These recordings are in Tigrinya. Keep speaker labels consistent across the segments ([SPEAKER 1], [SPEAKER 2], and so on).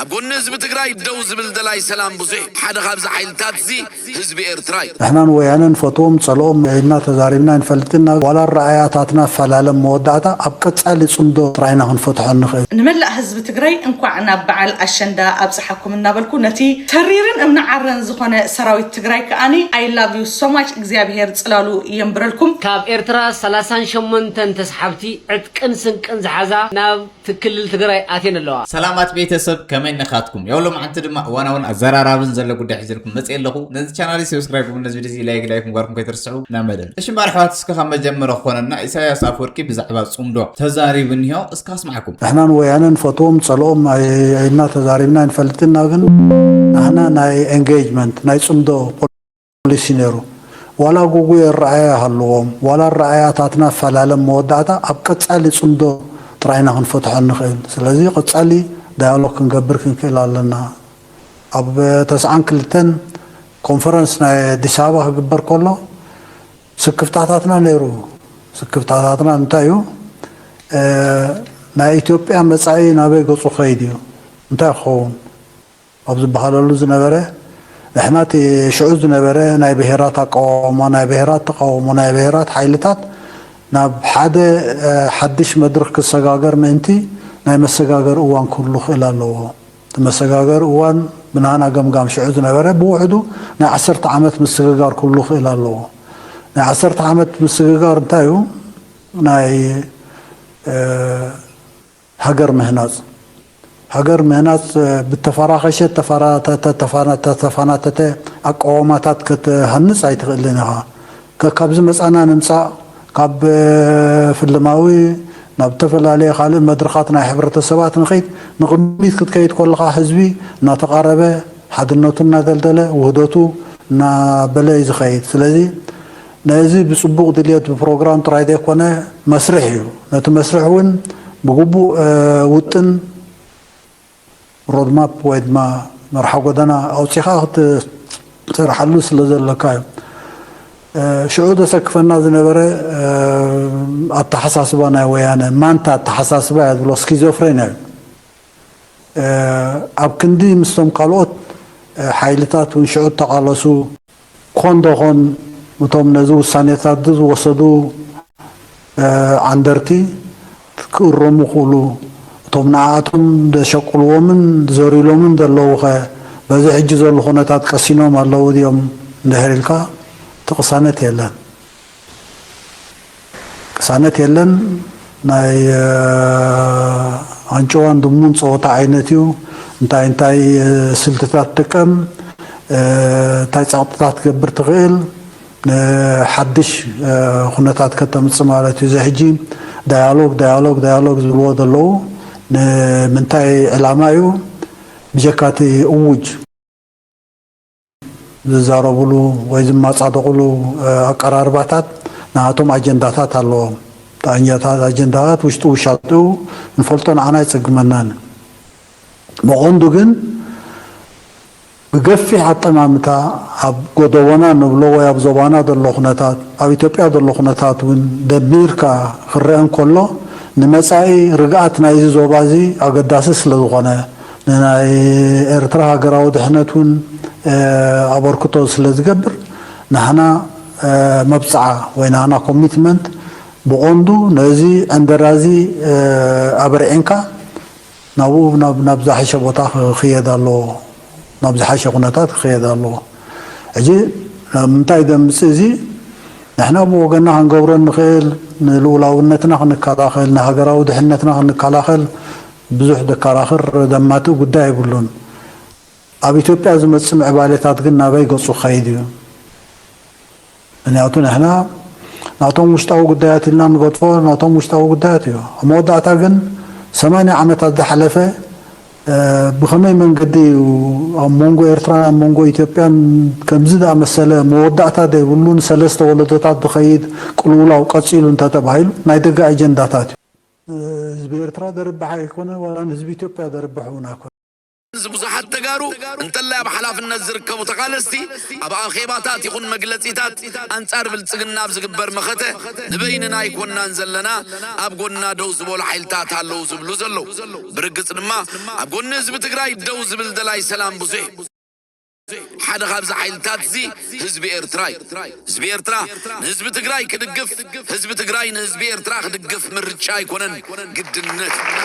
[SPEAKER 1] ኣብ ጎኒ ህዝቢ ትግራይ ደው ዝብል ደላይ ሰላም ብዙሕ'ዩ። ሓደ ካብዚ ሓይልታት'ዚ ህዝቢ ኤርትራ'ዩ። ንሕና ንወያነ
[SPEAKER 2] ንፈትዎም ጸልኦም ኢልና ተዛሪብና ኣይንፈልጥን ናብ ዋላ ኣረኣእያታትና ፈላለ ኣብ መወዳእታ ኣብ ቀጻሊ ጽምዶ ጥራይ ኢና ክንፈትሖ እንኽእል። ንመላእ ህዝቢ ትግራይ
[SPEAKER 3] እንኳዕ ናብ በዓል ኣሸንዳ ኣብፀሓኩም እናበልኩ ነቲ ተሪርን እምኒ ዓረን ዝኾነ ሰራዊት ትግራይ ከኣ I love you so much እግዚኣብሔር ፅላሉ የንብረልኩም። ካብ ኤርትራ
[SPEAKER 4] ሰላሳን ሸሞንተን ተስሓብቲ ዕጥቅን ስንቅን ዝሓዛ ናብ ትክልል ትግራይ ኣትየን ኣለዋ። ሰላማት ቤተ ሰብ
[SPEAKER 5] ከመይ ነካትኩም ያው ሎምዓንቲ ድማ እዋናውን ኣዘራራብን ዘለ ጉዳይ ሒዘልኩም መጽ ኣለኹ ነዚ ቻናሊ ሰብስክራይብ ግቡ ነዚ ቪዲዚ ላይክ ላይክ ምግባርኩም ከይትርስዑ ናብ መደብ እሽምባ ኣሕዋት እስከ ካብ መጀመረ ክኾነና ኢሳያስ ኣፍወርቂ ብዛዕባ ጽምዶ ተዛሪቡ እኒሆ እስከ ኣስማዕኩም ንሕና ንወያነ
[SPEAKER 2] ንፈትዎም ጸልኦም ኣይና ተዛሪብና ኣይንፈልጥን እና ግን ንሕና ናይ ኤንጌጅመንት ናይ ጽምዶ ፖሊሲ ነይሩ። ዋላ ጉጉይ ኣረኣእያ ይሃልዎም፣ ዋላ ኣረኣእያታትና ይፈላለ መወዳእታ ኣብ ቀጻሊ ጽምዶ ጥራይ ኢና ክንፈትሖ እንኽእል። ስለዚ ቀጻሊ ዳያሎግ ክንገብር ክንክእል ኣለና። ኣብ ተስዓን ክልተን ኮንፈረንስ ናይ ኣዲስ ኣበባ ክግበር ከሎ ስክፍታታትና ነይሩ። ስክፍታታትና እንታይ እዩ? ናይ ኢትዮጵያ መጻኢ ናበይ ገጹ ክኸይድ እዩ? እንታይ ክኸውን? ኣብ ዝበሃለሉ ዝነበረ፣ ንሕና እቲ ሽዑ ዝነበረ ናይ ብሄራት ኣቀዋውማ፣ ናይ ብሄራት ተቓውሞ፣ ናይ ብሄራት ሓይልታት ናብ ሓደ ሓድሽ መድርኽ ክሰጋገር ምእንቲ ናይ መሰጋገሪ እዋን ክህሉ ክእል ኣለዎ። እቲ መሰጋገሪ እዋን ብናህና ገምጋም ሽዑ ዝነበረ ብውሕዱ ናይ ዓሰርተ ዓመት ምስግጋር ክህሉ ክእል ኣለዎ። ናይ ዓሰርተ ዓመት ምስግጋር እንታይ እዩ? ናይ ሃገር ምህናጽ ሃገር ምህናጽ ብተፋራኸሸ ተፋናተተ ኣቃዋማታት ከትሃንጽ ኣይትኽእልን ኢኻ። ከካብ ዝመጻና ንምጻእ ካብ ፍልማዊ ናብ እተፈላለየ ካልእ መድረኻት ናይ ሕብረተሰባት ንኺድ ንቕድሚት ክትከይድ ኮለኻ ህዝቢ እናተቓረበ ሓድነቱ እናደልደለ ውህደቱ እናበለ እዩ ዝኸይድ ስለዚ ነዚ ብጽቡቕ ድልየት ብፕሮግራም ጥራይ ዘይኮነ መስርሕ እዩ። ነቲ መስርሕ እውን ብግቡእ ውጥን፣ ሮድማፕ፣ ወይ ድማ መርሓ ጎደና ኣውጺኻ ክትሰርሓሉ ስለ ዘሎካ እዩ። ሽዑ ዘሰክፈና ዝነበረ ኣተሓሳስባ ናይ ወያነ ማንታ ኣተሓሳስባ እያ ዝብሎ ስኪዞፍሬንያ እዩ። ኣብ ክንዲ ምስቶም ካልኦት ሓይልታት እውን ሽዑ እተቓለሱ፣ ክኾን ዶ ኾን እቶም ነዚ ውሳኔታትዚ ዝወሰዱ ዓንደርቲ ክእረሙ ክእሉ፣ እቶም ንኣኣቶም ዘሸቅልዎምን ዘርዩሎምን ዘለዉኸ በዚ ሕጂ ዘሉ ኩነታት ቀሲኖም ኣለዉ ድዮም እንድሕር ኢልካ እቲ ቅሳነት የለን። ቅሳነት የለን ናይ ኣንጭዋን ድሙን ጸወታ ዓይነት እዩ እንታይ እንታይ ስልትታት ትጥቀም እንታይ ጸቕጥታት ትገብር ትኽእል ሓድሽ ኩነታት ከተምጽእ ማለት እዩ እዚ ሕጂ ዳያሎግ ዳያሎግ ዳያሎግ ዝብልዎ ዘለዉ ንምንታይ ዕላማ እዩ ብጀካ እቲ እዉጅ ዝዛረብሉ ወይ ዝማጻደቕሉ ኣቀራርባታት ናሃቶም ኣጀንዳታት ኣለዎም ጣኛታት ኣጀንዳታት ውሽጡ ውሻጥኡ ንፈልጦ ንዓና ኣይጽግመናን ብቐንዱ ግን ብገፊሕ ኣጠማምታ ኣብ ጎደቦና ንብሎ ወይ ኣብ ዞባና ዘሎ ኩነታት ኣብ ኢትዮጵያ ዘሎ ኩነታት ውን ደሚርካ ክረኣ እንከሎ ንመጻኢ ርግኣት ናይዚ ዞባዚ ኣገዳሲ ስለዝኾነ ንናይ ኤርትራ ሃገራዊ ድሕነት ውን ኣበርክቶ ስለ ዝገብር ናህና መብጽዓ ወይ ናህና ኮሚትመንት ብቆንዱ ነዚ ዕንደራ እዚ ኣበርዒንካ ናብኡ ናብ ዝሓሸ ቦታ ክኽየድ ኣለዎ ናብ ዝሓሸ ኩነታት ክኽየድ ኣለዎ ሕጂ ናብ ምንታይ ደምጽእ እዚ ንሕና ብወገንና ክንገብሮ እንኽእል ንልኡላውነትና ክንከላኸል ንሃገራዊ ድሕነትና ክንከላኸል ብዙሕ ደካራኽር ደማትእ ጉዳይ የብሉን። ኣብ ኢትዮጵያ ዝመጽእ ምዕባሌታት ግን ናበይ ገጹ ክኸይድ እዩ? ምንያቱ ንሕና ናቶም ውሽጣዊ ጉዳያት ኢልና ንገድፎ ናቶም ውሽጣዊ ጉዳያት እዩ። ኣብ መወዳእታ ግን ሰማንያ ዓመታት ዝሓለፈ ብኸመይ መንገዲ እዩ ኣብ መንጎ ኤርትራን ኣብ መንጎ ኢትዮጵያን ከምዚ ዝኣመሰለ መወዳእታ ዘይብሉ ንሰለስተ ወለዶታት ዝኸይድ ቅልውላው ቀጺሉ እንተተባሂሉ ናይ ደገ ኣጀንዳታት እዩ። ንህዝቢ ኤርትራ ዘርብሕ ኣይኮነ ዋላ ንህዝቢ ኢትዮጵያ ዘርብሕ እውን ኣይኮነ። እዚ
[SPEAKER 1] ብዙሓት ተጋሩ እንተላይ ኣብ ሓላፍነት ዝርከቡ ተቓለስቲ ኣብ ኣኼባታት ይኹን መግለጺታት ኣንጻር ብልጽግና ኣብ ዝግበር መኸተ ንበይንና ኣይኮናን ዘለና ኣብ ጎንና ደው ዝበሉ ሓይልታት ኣለው ዝብሉ ዘለው። ብርግጽ ድማ ኣብ ጎኒ ህዝቢ ትግራይ ደው ዝብል ደላይ ሰላም ብዙሕ እዩ። ሓደ ካብዚ ሓይልታትዚ ህዝቢ ኤርትራ እዩ። ህዝቢ ኤርትራ ንህዝቢ ትግራይ ክድግፍ፣ ህዝቢ ትግራይ ንህዝቢ ኤርትራ ክድግፍ ምርጫ ኣይኮነን ግድነት እዩ።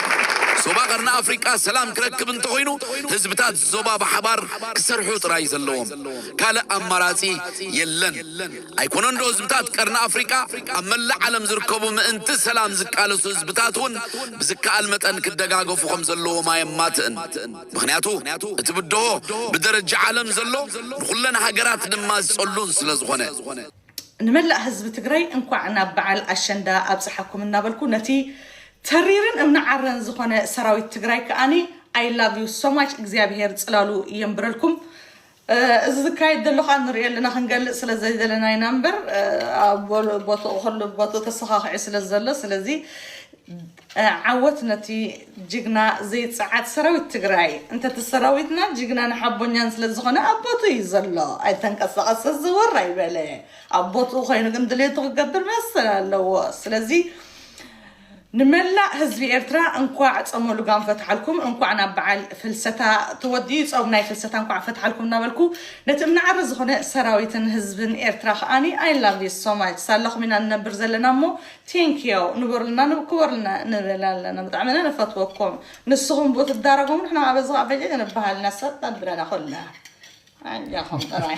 [SPEAKER 1] ዞባ ቀርኒ ኣፍሪቃ ሰላም ክረክብ እንተኾይኑ ህዝብታት ዞባ ብሓባር ክሰርሑ ጥራይ ዘለዎም። ካልእ ኣማራጺ የለን። ኣይኮነንዶ ህዝብታት ቀርኒ ኣፍሪቃ ኣብ መላእ ዓለም ዝርከቡ ምእንቲ ሰላም ዝቃለሱ ህዝብታት'ውን ብዝከኣል መጠን ክደጋገፉ ከምዘለዎም ኣየማትእን። ምኽንያቱ እቲ ብድሆ ብደረጃ ዓለም ዘሎ ንኹለን ሃገራት ድማ ዝጸሉን ስለ ዝኾነ። ንመላእ
[SPEAKER 3] ህዝቢ ትግራይ እንኳዕ ናብ በዓል ኣሸንዳ ኣብፀሓኩም እናበልኩ ነቲ ተሪርን እምኒ ዓረን ዝኾነ ሰራዊት ትግራይ ከኣ I love you so much እግዚኣብሔር ፅላሉ የንብረልኩም እዚ ዝካየድ ዘሎ ከኣ ንርእዮ ኣለና ክንገልጽ ስለ ዘይደለና ኢና እምበር ኣብ ቦትኡ ኩሉ ብ ቦትኡ ተሰኻኺዑ ስለ ዘሎ ስለዚ ዓወት ነቲ ጅግና ዘይጸዓድ ሰራዊት ትግራይ እንተ እቲ ሰራዊትና ጅግናን ሓቦኛን ስለ ዝኾነ ኣብ ቦትኡ እዩ ዘሎ ኣይተንቀሳቐሰ ዘወር ኣይበለ ኣብ ቦትኡ ኮይኑ ግን ድሌቱ ክገብር መሰል ኣለዎ ስለዚ ንመላእ ህዝቢ ኤርትራ እንኳዕ ጾመ ሉጋም ፈትሓልኩም እንኳዕ ናብ በዓል ፍልሰታ ተወዲኡ ጾም ናይ ፍልሰታ እንኳዕ ፈትሓልኩም እናበልኩ ነቲ እምነዓረ ዝኾነ ሰራዊትን ህዝብን ኤርትራ ከኣ I love you so much ሳላኹም ኢና ንነብር ዘለና እሞ Thankyou ንበሩልና ንክበሩልና ንብል ኣለና ብጣዕሚ ኢና ንፈትወኩም ንስኹም ብኡ ትዳረጉ ንሕና ከኣ በዚ ከኣ በጀጀ ንበሃል ኢና ሰጥ ኣብለና ኩልና ኣጆኹም ጥራይ።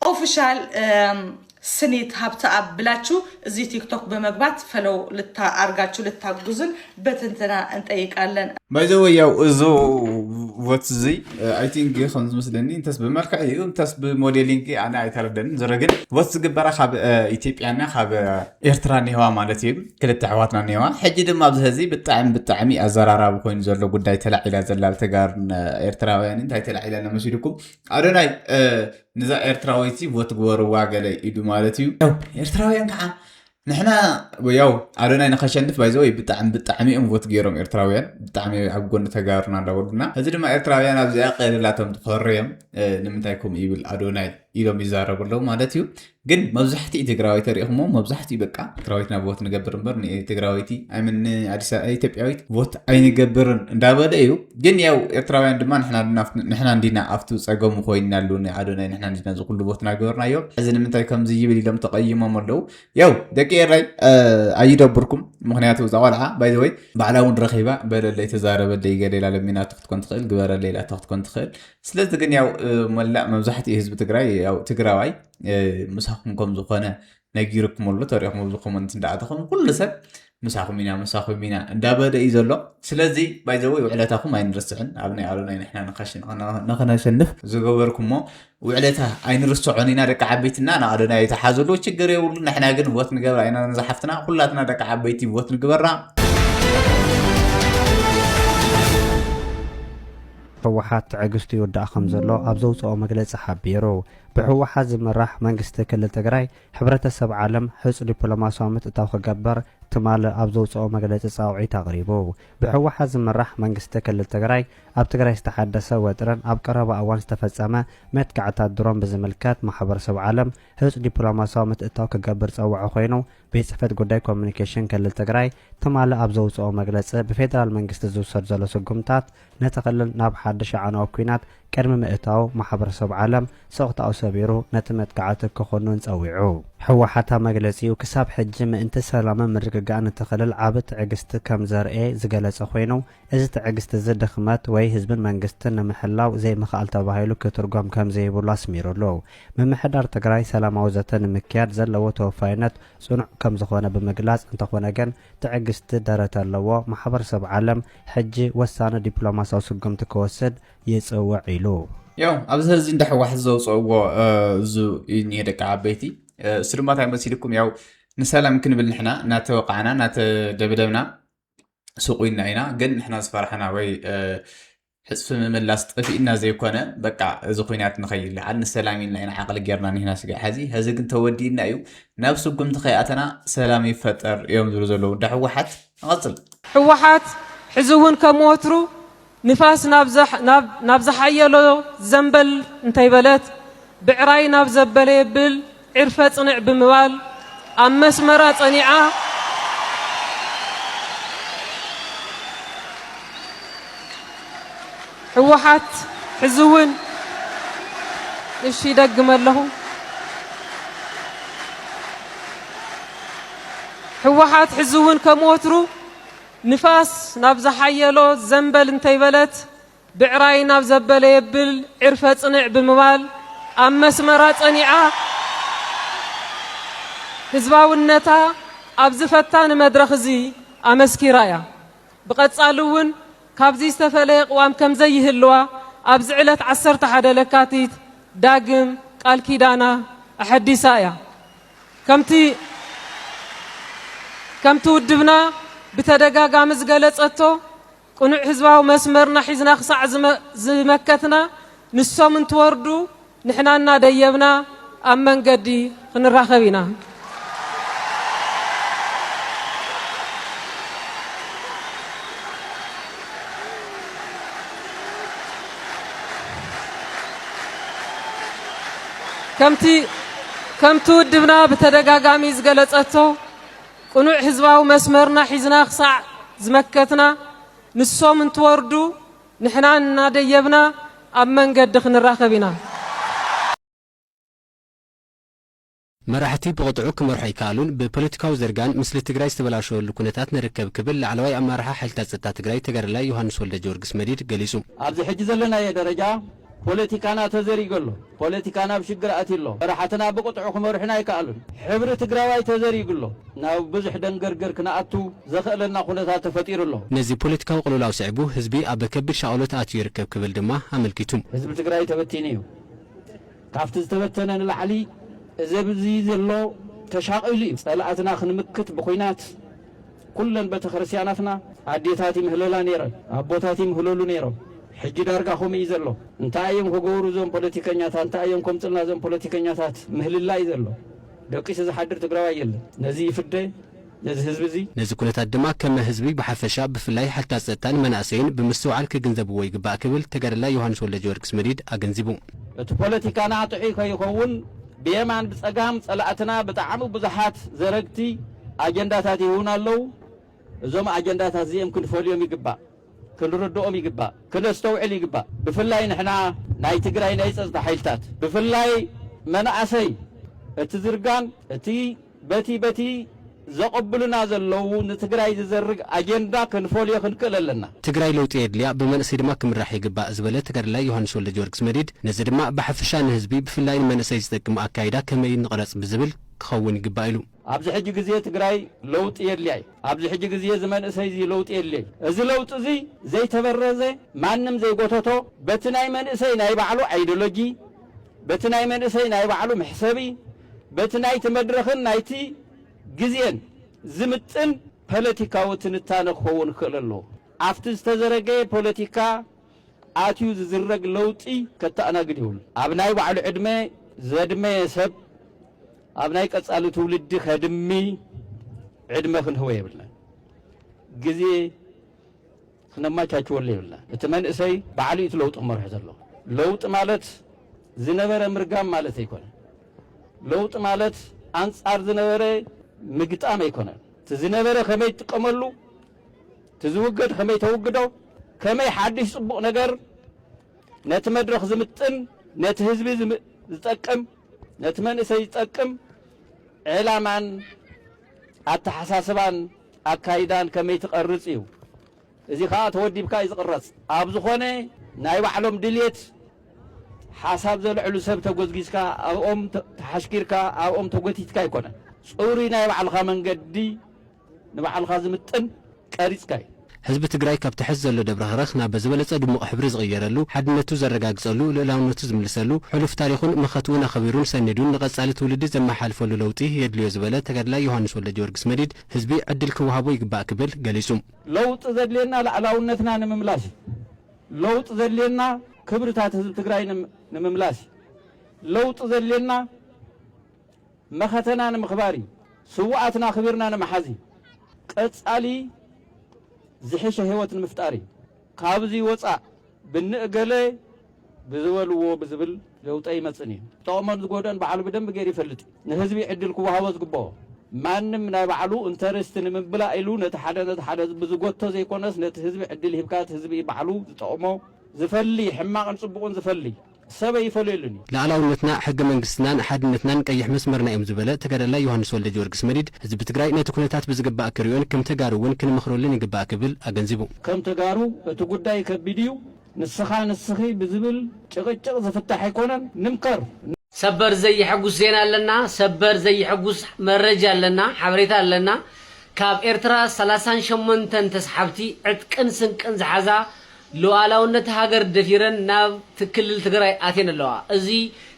[SPEAKER 3] ኦፍሻል ስኒት ሃብተኣብ ብላችሁ እዚህ ቲክቶክ በመግባት ፈለው ልታ አርጋችሁ ልታግዙን በትንትና እንጠይቃለን። ባይዘወይ ያው
[SPEAKER 5] እዞ ወት እዚ ኣይ ቲንክ ከም ዝመስለኒ እንተስ ብመልክዕ እዩ እንተስ ብሞዴሊንግ ኣነ ኣይተረደንን ዝረ ግን ወት ዝግበራ ካብ ኢትዮጵያና ካብ ኤርትራ ኒሄዋ ማለት እዩ ክልተ ኣሕዋትና ኒሄዋ ሕጂ ድማ ኣብዚ ህዚ ብጣዕሚ ብጣዕሚ ኣዘራራቢ ኮይኑ ዘሎ ጉዳይ ተላዒላ ዘላ ተጋርን ኤርትራውያን እንታይ ተላዒላ ነመሲልኩም ኣዶናይ ንዛ ኤርትራዊት ቦ ትግበርዋ ገለ ኢዱ ማለት እዩ ኤርትራውያን ከዓ ንሕና ያው ኣዶናይ ንከሸንፍ ባይዘወ ብጣዕሚ ብጣዕሚ እዮም ቮት ገይሮም ኤርትራውያን ብጣዕሚ ኣብ ጎኒ ተጋሩና እንዳበሉና እዚ ድማ ኤርትራውያን ኣብዚኣ ቀልላቶም ትኮርዮም ንምንታይ ከምኡ ይብል ኣዶናይ ኢሎም ይዛረቡ ኣለዉ ማለት እዩ ግን መብዛሕትኡ ትግራዊ ተሪኢኹሞ መብዛሕትኡ በቃ ትግራዊት ናብ ቮት ንገብር እምበር ትግራዊቲ ኣይምን ኢትዮጵያዊት ቮት ኣይንገብርን እንዳበለ እዩ ግን ያው ኤርትራውያን ድማ ንሕና እንዲና ኣብቲ ፀገሙ ኮይና ኣሉ ኣዶናይ ንሕና እንዲና እዚ ኩሉ ቮት ናገበርናዮ እዚ ንምንታይ ከምዚ ይብል ኢሎም ተቀይሞም ኣለው ያው ደቂ ኤራይ ኣይደብርኩም ምክንያቱ እዛ ቆልዓ ባይዘወይ ባዕላ እውን ረኪባ በለለይ ተዛረበለይ ገሌላ ለሚናቶ ክትኮን ትኽእል ግበረለይ ላቶ ክትኮን ትኽእል ስለዚ ግን ያው መላእ መብዛሕትኡ ህዝቢ ትግራይ ያው ትግራዋይ ምሳኹም ከም ዝኾነ ነጊርኩም ኣሎ ተሪኹም ኣብዚ ኮመንት እንዳኣተኹም ኩሉ ሰብ ምሳኹም ኢና ምሳኹም ኢና እንዳበለ እዩ ዘሎ ስለዚ ባይዘወ ውዕለታኹም ኣይንርስዕን ኣብ ናይ ኣሎና ንሕና ንኸነሸንፍ ዝገበርኩሞ ውዕለታ ኣይንርስዖን ኢና ደቂ ዓበይትና ንኣሎና የተሓዝሉ ችግር የብሉ ንሕና ግን ቦት ንገብራ ኢና ንዝሓፍትና ኩላትና ደቂ ዓበይቲ ቦት ንግበራ
[SPEAKER 6] ህወሓት ትዕግስቱ ይውዳእ ከምዘሎ ኣብ ዘውፀኦ መግለፂ ሓቢሩ። ብህወሓት ዝምራሕ መንግስቲ ክልል ትግራይ ሕብረተሰብ ዓለም ህፁፅ ዲፕሎማሲያዊ ምትእታው ክገብር ትማሊ ኣብ ዘውፀኦ መግለፂ ፃውዒት ኣቕሪቡ። ብህወሓት ዝምራሕ መንግስቲ ክልል ትግራይ ኣብ ትግራይ ዝተሓደሰ ወጥሪን ኣብ ቀረባ እዋን ዝተፈፀመ መጥቃዕትታት ድሮን ብዝምልከት ማሕበረሰብ ዓለም ህፁፅ ዲፕሎማሲያዊ ምትእታው ክገብር ፀውዖ ኮይኑ ቤት ፅሕፈት ጉዳይ ኮሙኒኬሽን ክልል ትግራይ ትማሊ ኣብ ዘውፅኦ መግለፂ ብፌዴራል መንግስቲ ዝውሰድ ዘሎ ስጉምታት ነቲ ክልል ናብ ሓድሽ ኣዕናዊ ኲናት ቅድሚ ምእታዉ ማሕበረሰብ ዓለም ስቕታኡ ሰቢሩ ነቲ መጥቃዕቲ ክኹንን ፀዊዑ። ህወሓት ኣብ መግለፂኡ ክሳብ ሕጂ ምእንቲ ሰላምን ምርግጋእን እቲ ክልል ዓቢ ትዕግስቲ ከምዘርእየ ዝገለፀ ኮይኑ፣ እዚ ትዕግስቲ እዚ ድኽመት ወይ ህዝብን መንግስትን ንምሕላው ዘይምኽኣል ተባሂሉ ክትርጎም ከምዘይብሉ ኣስሚሩሉ። ምምሕዳር ትግራይ ሰላማዊ ዘተ ንምክያድ ዘለዎ ተወፋይነት ፅኑዕ ከምዝኾነ ብምግላፅ እንተኾነ ግን ትዕግስቲ ደረት ኣለዎ ማሕበረሰብ ዓለም ሕጂ ወሳኒ ዲፕሎማሲያዊ ስጉምቲ ክወስድ ይፅውዕ ኢሉ። ያው ኣብዚ
[SPEAKER 5] ሀዚ እንዳ ሕዋሕት ዘውፀእዎ እዙ እዩ እኒሀ ደቂ ዓበይቲ እሱ ድማ እንታይ መሲልኩም ያው ንሰላም ክንብል ንሕና ናተወቃዕና ናተደብደብና ሱቕ ኢልና ኢና ግን ንሕና ዝፈራሕና ወይ ሕፅፊ ምምላስ ጠፊእና ዘይኮነ በቃ እዚ ኩናት ንኸይለዓል ንሰላም ኢልና ኢና ዓቕሊ ጌርና ኒህና ስጋ ሕዚ ሕዚ ግን ተወዲእና እዩ ናብ ስጉምቲ ከይኣተና ሰላም ይፈጠር እዮም ዝብሉ ዘለዉ እንዳ ህወሓት ንቐፅል ህወሓት
[SPEAKER 7] ሕዚ እውን ከም ወትሩ ንፋስ ናብ ዝሓየሎ ዘንበል እንተይበለት ብዕራይ ናብ ዘበለ የብል ዕርፈ ፅንዕ ብምባል ኣብ መስመራ ፀኒዓ ህወሓት ሕዚ እውን እሺ ይደግመ ኣለኹ ህወሓት ሕዚ እውን ከም ወትሩ ንፋስ ናብ ዝሓየሎ ዘንበል እንተይበለት ብዕራይ ናብ ዘበለ የብል ዕርፈ ፅንዕ ብምባል ኣብ መስመራ ፀኒዓ ህዝባውነታ ኣብዚ ፈታኒ መድረኽ እዚ ኣመስኪራ እያ። ብቐፃሊ እውን ካብዚ ዝተፈለየ ቅዋም ከምዘይህልዋ ኣብዚ ዕለት ዓሰርተ ሓደ ለካቲት ዳግም ቃል ኪዳና ኣሐዲሳ እያ። ከምቲ ውድብና ብተደጋጋሚ ዝገለፀቶ ቅኑዕ ህዝባዊ መስመርና ሒዝና ክሳዕ ዝመከትና ንሶም እንትወርዱ ንሕና እናደየብና ኣብ መንገዲ ክንራኸብ ኢና። ከምቲ ከምቲ ውድብና ብተደጋጋሚ ዝገለጸቶ ቅኑዕ ህዝባዊ መስመርና ሒዝና ክሳዕ ዝመከትና ንሶም እንትወርዱ ንሕና እናደየብና ኣብ መንገዲ ክንራኸብ ኢና።
[SPEAKER 8] መራሕቲ ብቕጥዑ ክመርሑ ኣይከኣሉን፣ ብፖለቲካዊ ዝርጋን ምስሊ ትግራይ ዝተበላሸወሉ ኩነታት ንርከብ ክብል ላዕለዋይ ኣመራርሓ ሓይልታት ፀጥታ ትግራይ ተጋዳላይ ዮሃንስ ወልደጀወርግስ መዲድ ገሊፁ። ኣብዚ ሕጂ ዘለናዮ
[SPEAKER 9] ደረጃ ፖለቲካና ተዘሪጉ ኣሎ፣ ፖለቲካና ኣብ ሽግር ኣትዩ ኣሎ፣ መራሕትና ብቕጥዑ ክመርሑና ኣይከኣሉን፣ ሕብሪ ትግራዋይ ተዘሪጉ ኣሎ፣ ናብ ብዙሕ ደንገርገር ክንኣቱ ዘኸእለና ኩነታት ተፈጢሩ ኣሎ። ነዚ ፖለቲካዊ ቅልውላው
[SPEAKER 8] ስዒቡ ህዝቢ ኣብ ከቢድ ሻቕሎት ኣትዩ ይርከብ ክብል ድማ ኣመልኪቱ። ህዝቢ ትግራይ ተበቲኑ
[SPEAKER 9] እዩ። ካብቲ ዝተበተነ ንላዕሊ እዚ ኣብዚ ዘሎ ተሻቒሉ እዩ። ጸላእትና ክንምክት ብኩናት ኩለን በተክርስትያናትና ኣዴታት ይምህለላ ነይረን፣ ኣቦታት ይምህለሉ ነይሮም። ሕጂ ዳርጋ ከምኡ እዩ ዘሎ። እንታይ እዮም ክገብሩ እዞም ፖለቲከኛታት? እንታይ እዮም ከምጽልና እዞም ፖለቲከኛታት? ምህልላ እዩ ዘሎ። ደቂሱ ዝሓድር ትግራዋይ የለን። ነዚ ይፍደ። ነዚ ህዝቢ እዚ። ነዚ ኩነታት ድማ
[SPEAKER 8] ከመ ህዝቢ ብሓፈሻ ብፍላይ ሓይልታት ጸጥታን መናእሰይን ብምስትውዓል ክግንዘብዎ ይግባእ ክብል ተጋዳላይ ዮሃንስ ወልደጀወርግስ መዲድ ኣገንዚቡ። እቲ ፖለቲካና
[SPEAKER 9] ጥዑይ ከይኸውን ብየማን ብጸጋም ጸላእትና ብጣዕሚ ብዙሓት ዘረግቲ ኣጀንዳታት ይህቡና ኣለዉ። እዞም ኣጀንዳታት እዚእም ክንፈልዮም ይግባእ፣ ክንርድኦም ይግባእ፣ ክነስተውዕል ይግባእ። ብፍላይ ንሕና ናይ ትግራይ ናይ ጸጥታ ሓይልታት ብፍላይ መናእሰይ እቲ ዝርጋን እቲ በቲ በቲ ዘቐብሉና ዘለዉ ንትግራይ ዝዘርግ ኣጀንዳ ክንፈልዮ ክንክእል ኣለና። ትግራይ ለውጢ የድልያ፣
[SPEAKER 8] ብመንእሰይ ድማ ክምራሕ ይግባእ ዝበለ ተጋዳላይ ዮሃንስ ወልደጀወርግስ መዲድ፣ ነዚ ድማ ብሓፈሻ ንህዝቢ ብፍላይ ንመንእሰይ ዝጠቅም ኣካይዳ ከመይ እዩ ንቕረፅ ብዝብል ክኸውን ይግባእ ኢሉ። ኣብዚ ሕጂ ግዜ
[SPEAKER 9] ትግራይ ለውጢ የድልያ እዩ። ኣብዚ ሕጂ ግዜ እዚ መንእሰይ እዚ ለውጢ የድልዮ እዩ። እዚ ለውጢ እዚ ዘይተበረዘ፣ ማንም ዘይጎተቶ፣ በቲ ናይ መንእሰይ ናይ ባዕሉ ኣይዶሎጂ፣ በቲ ናይ መንእሰይ ናይ ባዕሉ መሕሰቢ፣ በቲ ናይቲ መድረኽን ናይቲ ግዜን ዝምጥን ፓለቲካዊ ትንታነ ክኸውን ክኽእል ኣለዎ። ኣብቲ ዝተዘረገየ ፓለቲካ ኣትዩ ዝዝረግ ለውጢ ከተኣናግድ የብሉን። ኣብ ናይ ባዕሉ ዕድመ ዘድመየ ሰብ ኣብ ናይ ቀጻሊ ትውልዲ ከድሚ ዕድመ ክንህቦ የብልናን። ግዜ ክነማቻችወሉ የብልናን እቲ መንእሰይ ባዕሉ እዩ እቲ ለውጢ ክመርሖ ዘለዎ ለውጢ ማለት ዝነበረ ምርጋም ማለት ኣይኮነን ለውጢ ማለት ኣንጻር ዝነበረ ምግጣም ኣይኮነን እቲ ዝነበረ ከመይ ትጥቀመሉ እቲ ዝውገድ ከመይ ተውግዶ ከመይ ሓድሽ ጽቡቕ ነገር ነቲ መድረኽ ዝምጥን ነቲ ህዝቢ ዝጠቅም ነቲ መንእሰይ ዝጠቅም ዕላማን ኣተሓሳስባን ኣካይዳን ከመይ ትቐርጽ እዩ እዚ ከኣ ተወዲብካ እዩ ዝቕረጽ ኣብ ዝኾነ ናይ ባዕሎም ድልየት ሓሳብ ዘልዕሉ ሰብ ተጎዝጊዝካ ኣብኦም ተሓሽኪርካ ኣብኦም ተጎቲትካ ኣይኮነን ጽሩይ ናይ ባዕልኻ መንገዲ ንባዕልኻ ዝምጥን ቀሪጽካ እዩ። ህዝቢ ትግራይ ካብቲ
[SPEAKER 8] ሐዚ ዘሎ ደብረኽረኽ ናብ ዝበለፀ ድሙቕ ሕብሪ ዝቕየረሉ፣ ሓድነቱ ዘረጋግፀሉ፣ ልእላውነቱ ዝምልሰሉ፣ ሕሉፍ ታሪኹን መኸትኡን ኣኸቢሩን ሰኒዱን ንቐፃሊ ትውልዲ ዘመሓላልፈሉ ለውጢ የድልዮ ዝበለ ተጋዳላይ ዮሃንስ ወልደጀወርግስ መዲድ ህዝቢ ዕድል ክወሃቦ ይግባእ ክብል ገሊፁ። ለውጢ ዘድልየና
[SPEAKER 9] ላዕላውነትና ንምምላስ ዩ። ለውጢ ዘድልየና ክብርታት ህዝቢ ትግራይ ንምምላስ ዩ። ለውጢ ዘድልየና። መኸተና ንምኽባር እዩ። ስውኣትና ኣኽቢርና ንምሓዝ እዩ። ቀፃሊ ዝሕሸ ህይወት ንምፍጣር እዩ። ካብዙይ ወፃእ ብንእገለ ብዝበልዎ ብዝብል ለውጢ ኣይመፅን እዩ። ዝጠቕሞን ዝጎድኦን ባዕሉ ብደንቢ ገይሩ ይፈልጥ እዩ። ንህዝቢ ዕድል ክወሃቦ ዝግበኦ። ማንም ናይ ባዕሉ እንተ ርስቲ ንምምላእ ኢሉ ነቲ ሓደ ነቲ ሓደ ብዝጎቶ ዘይኮነስ ነቲ ህዝቢ ዕድል ሂብካ እቲ ህዝቢ እዩ ባዕሉ ዝጠቕሞ ዝፈሊ ሕማቕን ፅቡቕን ዝፈሊ። ሰብ ኣይፈለየሉን እዩ። ልኣላውነትና፣ ሕገ
[SPEAKER 8] መንግስትናን ሓድነትናን ቀይሕ መስመርና እዮም ዝበለ ተጋዳላይ ዮሃንስ ወልደጀወርግስ መዲድ፣ ህዝቢ ትግራይ ነቲ ኩነታት ብዝግባእ ክሪኦን ከም ተጋሩ እውን ክንመኽረሉን ይግባእ ክብል ኣገንዚቡ። ከም ተጋሩ
[SPEAKER 9] እቲ ጉዳይ ከቢድ እዩ፣ ንስኻ ንስኺ ብዝብል ጭቕጭቕ ዝፍታሕ ኣይኮነን፣ ንምከር። ሰበር
[SPEAKER 4] ዘይሐጉስ ዜና ኣለና ሰበር ዘይሐጉስ መረጃ ኣለና ሓበሬታ ኣለና ካብ ኤርትራ ሰላሳን ሸሞንተን ተስሓብቲ ዕጥቅን ስንቅን ዝሓዛ ሉኣላውነት ሃገር ደፊረን ናብ ትክልል ትግራይ ኣትየን ኣለዋ። እዚ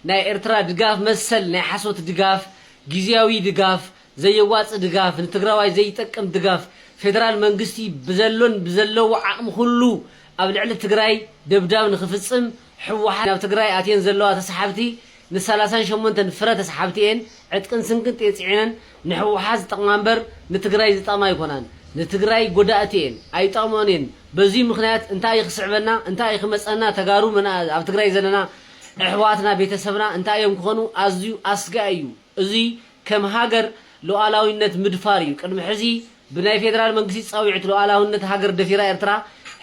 [SPEAKER 4] ናይ ኤርትራ ድጋፍ መሰል ናይ ሓሶት ድጋፍ፣ ጊዚያዊ ድጋፍ፣ ዘየዋጽእ ድጋፍ፣ ንትግራዋይ ዘይጠቅም ድጋፍ፣ ፌደራል መንግስቲ ብዘሎን ብዘለዎ ዓቅሚ ኩሉ ኣብ ልዕሊ ትግራይ ደብዳብ ንክፍጽም ሕወሓት ናብ ትግራይ ኣትየን ዘለዋ ተሳሓብቲ ን ሰላሳን ሸሞንተን ፍረ ተስሓብቲኤን ዕጥቅን ስንቅን ጤጺዐነን ንሕወሓት ዝጠቅማ እምበር ንትግራይ ዝጠቅማ ኣይኮናን ንትግራይ ጎዳእቲ እየን ኣይጠቅመኦን እየን በዙይ ምክንያት እንታይ እዩ ክስዕበና እንታይ እዩ ክመፀና ተጋሩ መናእ ኣብ ትግራይ ዘለና እሕዋትና ቤተሰብና እንታይ እዮም ክኮኑ ኣዝዩ ኣስጋኢ እዩ እዙይ ከም ሃገር ሉኣላዊነት ምድፋር እዩ ቅድሚ ሕዚ ብናይ ፌደራል መንግስቲ ፃዊዕት ሉኣላዊነት ሃገር ደፊራ ኤርትራ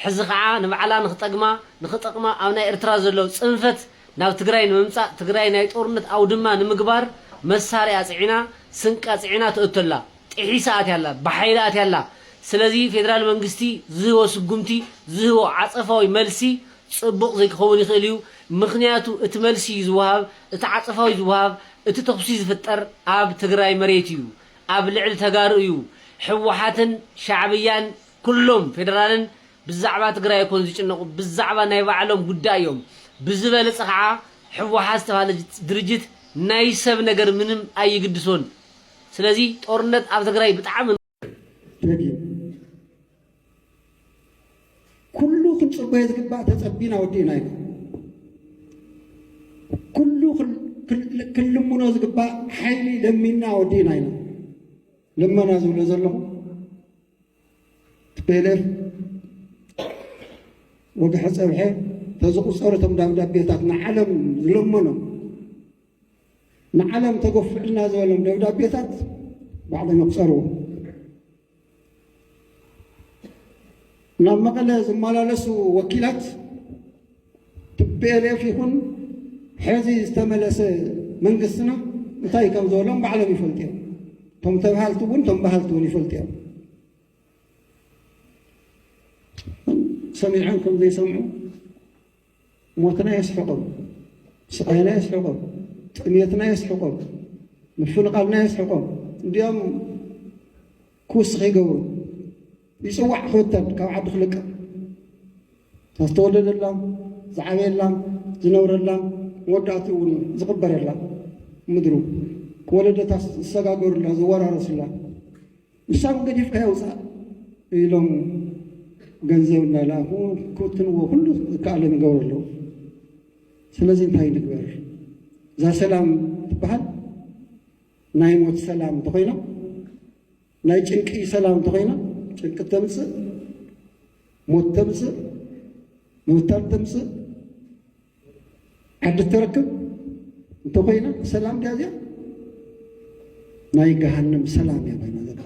[SPEAKER 4] ሕዚ ከዓ ንባዕላ ንክጠግማ ንክጠቅማ ኣብ ናይ ኤርትራ ዘሎ ፅንፈት ናብ ትግራይ ንምምጻእ ትግራይ ናይ ጦርነት ኣውድማ ንምግባር መሳርያ ኣጽዒና ስንቂ ኣጽዒና ትእቶ ኣላ ጢሒሳ ኣትያ ኣላ ብሓይሊ ኣትያ ኣላ ስለዚ ፌደራል መንግስቲ ዝህቦ ስጉምቲ ዝህቦ ዓጸፋዊ መልሲ ጽቡቕ ዘይክኸውን ይኽእል እዩ ምኽንያቱ እቲ መልሲ እዩ ዝወሃብ እቲ ዓጸፋዊ ዝወሃብ እቲ ተኹሲ ዝፍጠር ኣብ ትግራይ መሬት እዩ ኣብ ልዕሊ ተጋሩ እዩ ህወሓትን ሻዕብያን ኩሎም ፌደራልን ብዛዕባ ትግራይ ኣይኮን ዝጭነቁ ብዛዕባ ናይ ባዕሎም ጉዳይ እዮም ብዝበለፀ ካዓ ሕዋሓት ዝተባህለ ድርጅት ናይ ሰብ ነገር ምንም ኣይግድሶን ስለዚ ጦርነት ኣብ ትግራይ ብጣዕሚ ደጊም
[SPEAKER 10] ኩሉ ክንፅበዮ ዝግባእ ተፀቢና ወዲእና ኢና ኩሉ ክንልምኖ ዝግባእ ሓይሊ ለሚና ወዲእና ኢና ልመና ዝብሎ ዘለኹ ቲፔሌፍ ወግሐ ጸብሐ ተዝቑጸሩ እቶም ደብዳቤታት ንዓለም ዝለመኖም ንዓለም ተገፍዕልና ዝበሎም ደብዳቤታት ባዕሎም ይቑጸርዎ ናብ መቐለ ዝመላለሱ ወኪላት ቲፔሌፍ ይኹን ሐዚ ዝተመለሰ መንግስትና እንታይ ከምዝበሎም ባዕሎም ይፈልጡ እዮም። እቶም ተብሃልቲ እውን እቶም በሃልቲ እውን ይፈልጡ እዮም። ሰሚዖም ከም ዘይሰምዑ ሞትና የስሕቆም፣ ስቃይና የስሕቆም፣ ጥሜትና የስሕቆም፣ ምፍንቓልና የስሕቆም እንዲኦም ክውስኽ ይገብሩ። ይጽዋዕ ክብተን ካብ ዓዱ ክልቀቕ እታ ዝተወለደላ ዝዓበየላ ዝነብረላ መወዳእትኡ እውን ዝቕበረላ ምድሩ ወለደታት ዝሰጋገሩላ ዝወራረሱላ ንሳ እውን ገዲፍካ የውፃእ ኢሎም ገንዘብ እናለኣኹ ክብትንዎ ኩሉ ዝከኣሎም ይገብሩ ኣለዉ። ስለዚ እንታይ ንግበር? እዛ ሰላም ትበሃል ናይ ሞት ሰላም እንተኾይና ናይ ጭንቂ ሰላም እንተኾይና ጭንቂ ተምፅእ፣ ሞት ተምፅእ፣ ምብታን ተምፅእ፣ ዓዲ ተረክብ እንተኾይና ሰላም ድያ እዚኣ? ናይ ገሃነም ሰላም እያ ኮይና ዘላ።